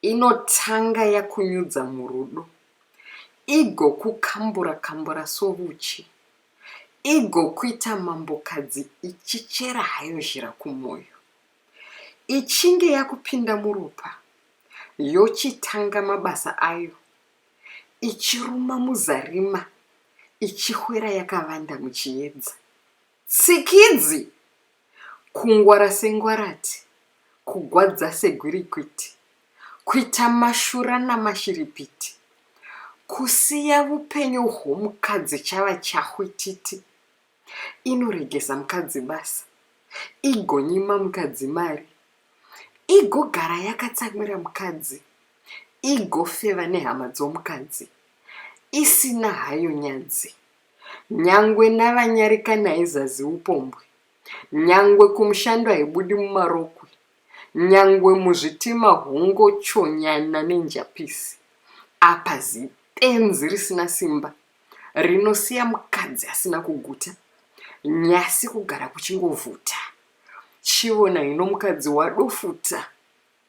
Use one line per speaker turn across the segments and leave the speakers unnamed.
Inotanga yakunyudza murudo. Igokukambura kambura sovuchi. Igokuita mambokadzi ichichera hayo zhira kumoyo. Ichinge yakupinda muropa, yochitanga mabasa ayo, ichiruma muzarima, ichihwera yakavanda muchiedza. Tsikidzi! Kungwara sengwarati, kugwadza segwirikwiti, kuita mashura namashiripiti, kusiya vupenyu hwomukadzi chava chahwititi, inoregesa mukadzi basa, igonyima mukadzi mari, igogara yakatsamwira mukadzi, igofeva nehama dzomukadzi, isina hayo nyadzi. Nyangwe navanyarikani haizazi upombwe, nyangwe kumushando haibudi mumarokwe, nyangwe muzvitima hongochonyana nenjapisi. Apa zibenzi risina simba rinosiya mukadzi asina kuguta, nyasi kugara kuchingovhuta. Chivona hino mukadzi wadofuta.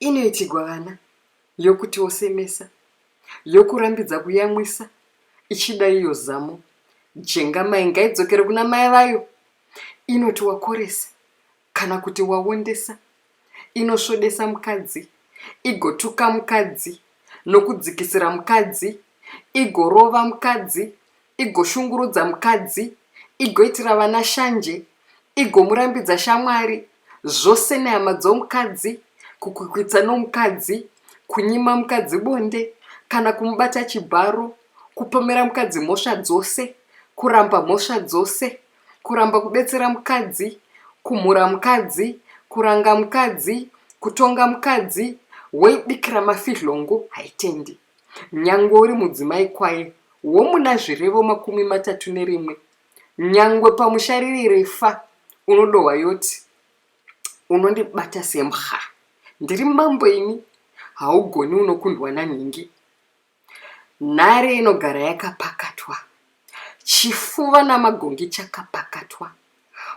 Inoitigwa vana, yokutiwo semesa, yokurambidza kuyamwisa, ichida iyo zamo, jengamai ngaidzokere kuna mai vayo, inoti wakoresa kana kuti waondesa, inosvodesa mukadzi, igotuka mukadzi, nokudzikisira mukadzi, igorova mukadzi, igoshungurudza mukadzi, igoitira vana shanje, igomurambidza shamwari, zvose nehama dzomukadzi, kukwikwidza nomukadzi, kunyima mukadzi bonde, kana kumubata chibharo, kupomera mukadzi mhosva dzose, kuramba mhosva dzose, kuramba kubetsera mukadzi, kumhura mukadzi, kuranga mukadzi, kutonga mukadzi, woibikira mafidhlongo, haitendi. Nyangwe uri mudzimai kwaye womuna zvirevo makumi matatu nerimwe, nyangwe pamusha riri refa, unodohwa yoti, Unondibata sembwa. Ndiri mambo ini, haugoni unokundwa nanhingi. Nhare inogara yakapakatwa, chifuva namagongi chakapakatwa,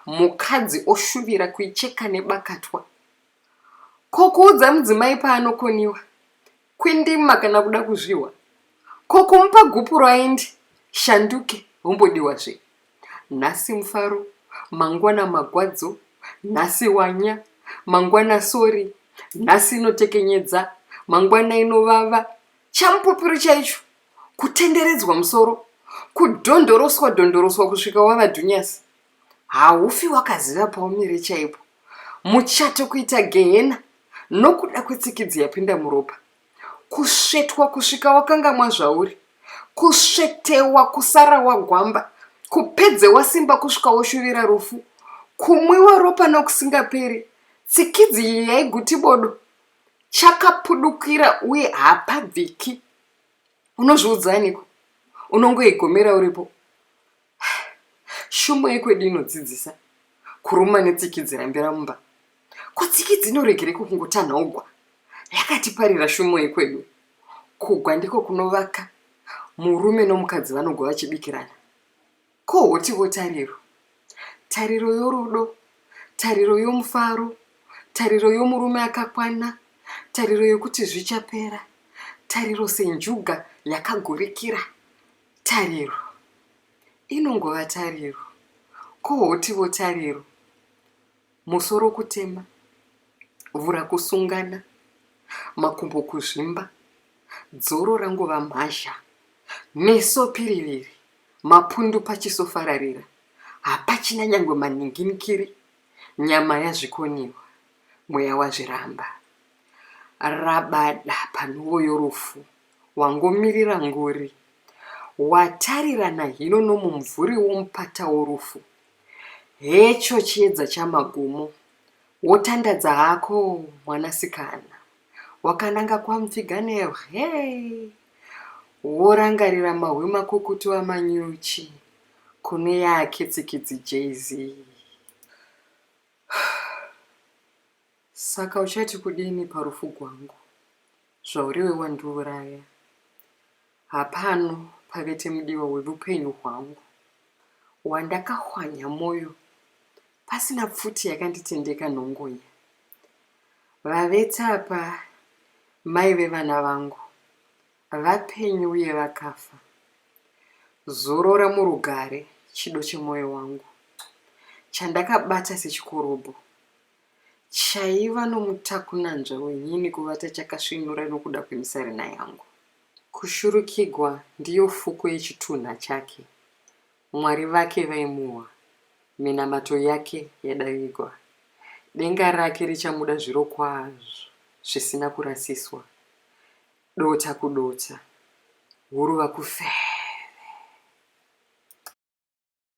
mukadzi oshuvira kuicheka nebakatwa. Ko kuudza mudzimai paanokoniwa? Kwindima kana kuda kuzvihwa. Ko kumupa gupuro aende shanduke hombodiwa zve. Nhasi mufaro, mangwana magwadzo, nhasi wanya, mangwana sori, nhasi inotekenyedza, mangwana inovava. Chamupupiro chaicho kutenderedzwa musoro, kudhondoroswa dhondoroswa kusvika wava dhunyasi. haufi wakaziva paumire chaipo muchato kuita gehena nokuda kwetsikidzi yapinda muropa kusvetwa kusvika wakangamwa zvauri kusvetewa kusara wagwamba kupedze wasimba kusvika woshuvira rufu kumwiwa ropa nokusingaperi tsikidzi iyi yaiguti bodo chakapudukira uye hapabviki unozviudzaaniko unongoigomera uripo Shumba yekwedu inodzidzisa kuruma netsiki dzirambira mumba. Ko tsiki dzinoregereko kungotanhawo gwa? Yakatiparira shumo yekwedu. Kugwa ndiko kunovaka murume nomukadzi vanogwa vachibikirana. Ko hotivo tariro? Tariro yorudo, tariro yomufaro, tariro yomurume akakwana, tariro yokuti zvichapera, tariro senjuga yakagurikira. Tariro inongova tariro, ko hotivo tariro, musoro kutema, vhura kusungana, makumbo kuzvimba, dzoro rangova mhazha, meso piriviri, mapundu pachiso fararira, hapachina nyangwe maninginikiri, nyama yazvikoniwa, mweya wazviramba. Rabada panhuvo yorufu, Wangomirira nguri. Watarirana hino nomumvuri womupata worufu. Hecho chiedza chamagumo. Wotandadza hako, mwanasikana. Wakananga kwamupfiganero, hee! Worangarira mahwi makukutu amanyuchi, kune yake tsikidzi Jay-Z. Saka uchati kudini parufu gwangu zvauriwe wandiuraya hapano pavete mudiwa wevupenyu hwangu wandakahwanya moyo pasina pfuti yakanditendeka nhongonya vavete apa mai vevana vangu vapenyu uye vakafa zorora murugare chido chemoyo wangu chandakabata sechikorobho Chaiva nomutakunanzva wenyini kuvata chakasvinura nokuda kwemisarena yangu. Kushurukigwa ndiyo fuko yechitunha chake. Mwari vake vaimuhwa. Minamato yake yadavigwa. Denga rake richamuda zvirokwazvo, zvisina kurasiswa. Dota kudota. Guruva kufeve.